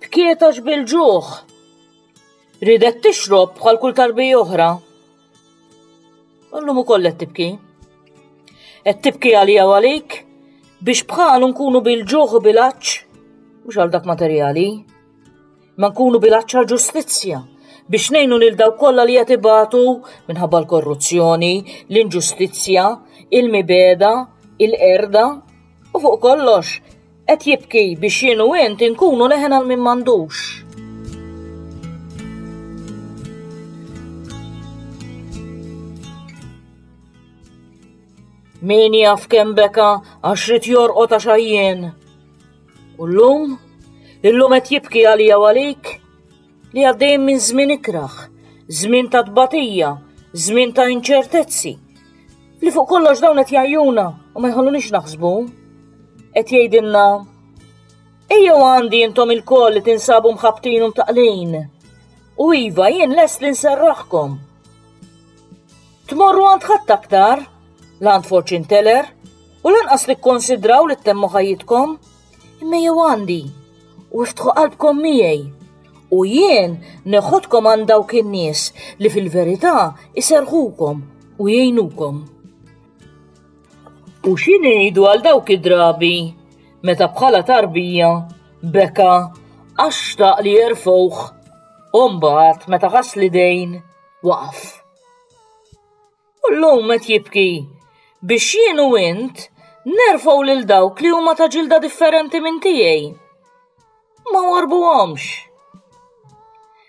Tkietax bil-ġuħ. Ridet tixrob bħal kull tarbi oħra. Ullum ukoll qed tibki. Qed tibki għalija għalik biex bħalu nkunu bil-ġuħ u bil-aċċ mhux għal dak materjali. Ma nkunu bil-aċċ għal ġustizzja biex nejnu lil daw kollha li qed ibatu minħabba l-korruzzjoni, l-inġustizzja, il-mibeda, il-qerda u fuq kollox Qed jibki biex jien u int inkunu leħen għal min m'għandux. Min jaf kemm beka għax rid jorqod għax għajjien. U llum, illum qed jibki għalija u għalik Li għaddejjin minn żmien ikraħ, żmien ta' tbatija, żmien ta' inċertezzi. Li fuq kollox dawn qed jgħajjuna u ma jħallunix naħsbu. Qed jgħidilna Ejjew għandi intom il-koll li tinsabu mħabtin u mtaqlin. U iva jien lest li nserraħkom. Tmorru għand ħadd aktar, l-għand forċin teller, u lanqas li kkonsidraw li temmu ħajjitkom. Imma jew għandi, u iftħu qalbkom miegħi, u jien neħodkom għand dawk in-nies li fil-verità iserħukom u jgħinukom. U xi ngħidu għal dawk id-drabi meta bħala tarbija beka għax xtaq li jerfgħuh u mbagħad meta ħass li dejn waqaf. U llum qed jibki biex jien u int nerfgħu lil dawk li huma ta' ġilda differenti minn tiegħi. Ma warbuhomx.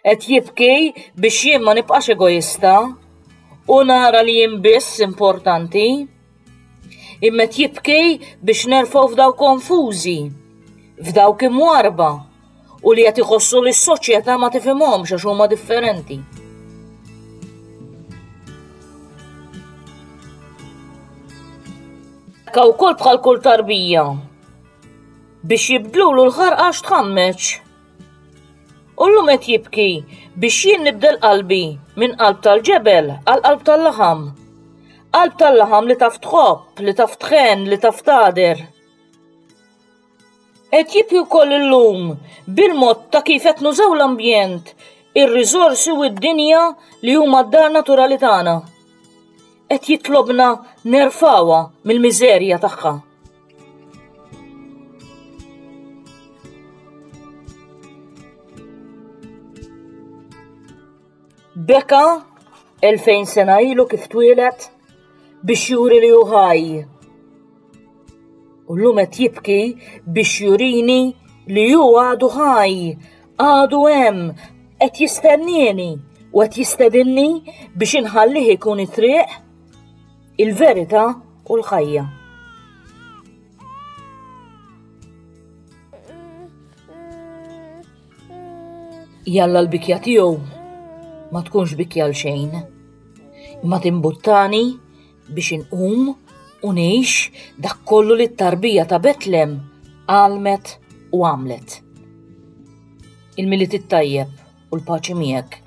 Qed jibki biex jien ma nibqax egoista u nara li jien biss importanti. Immet jibki biex nerfgħu f'daw konfużi, f'dawk imwarba u li qed iħossu li s-soċjetà ma tifhimhomx għax huma differenti. Ka wkoll bħal kull tarbija biex jibdlulu l-ħarqax tħammeċ. U l-lum qed jibki biex jien nibdel qalbi minn qalb tal-ġebel għal qalb tal-laħam. Qalb tal-laħam li taf tħobb, li taf tħen, li taf tader. Qed jibki wkoll illum bil-mod ta' kif qed nużaw l-ambjent, ir-riżorsi u d-dinja li huma d-dar naturali tagħna. Qed jitlobna nerfgħuha mill-miżerja tagħha. Beka 2000 sena ilu kif twieled biex juri li hu ħaj. U llum qed jibki biex jurini li hu għadu ħaj, għadu hemm, qed jistennieni u qed jistedinni biex inħallih ikun it-triq, il-verità u l-ħajja. Jalla l-bikja tiegħu ma tkunx bikja l xejn. Imma timbuttani biex inqum u ngħix dak kollu li t-tarbija ta' Betlem għalmet u għamlet. Il-Milied it-tajjeb u l-paċi miegħek.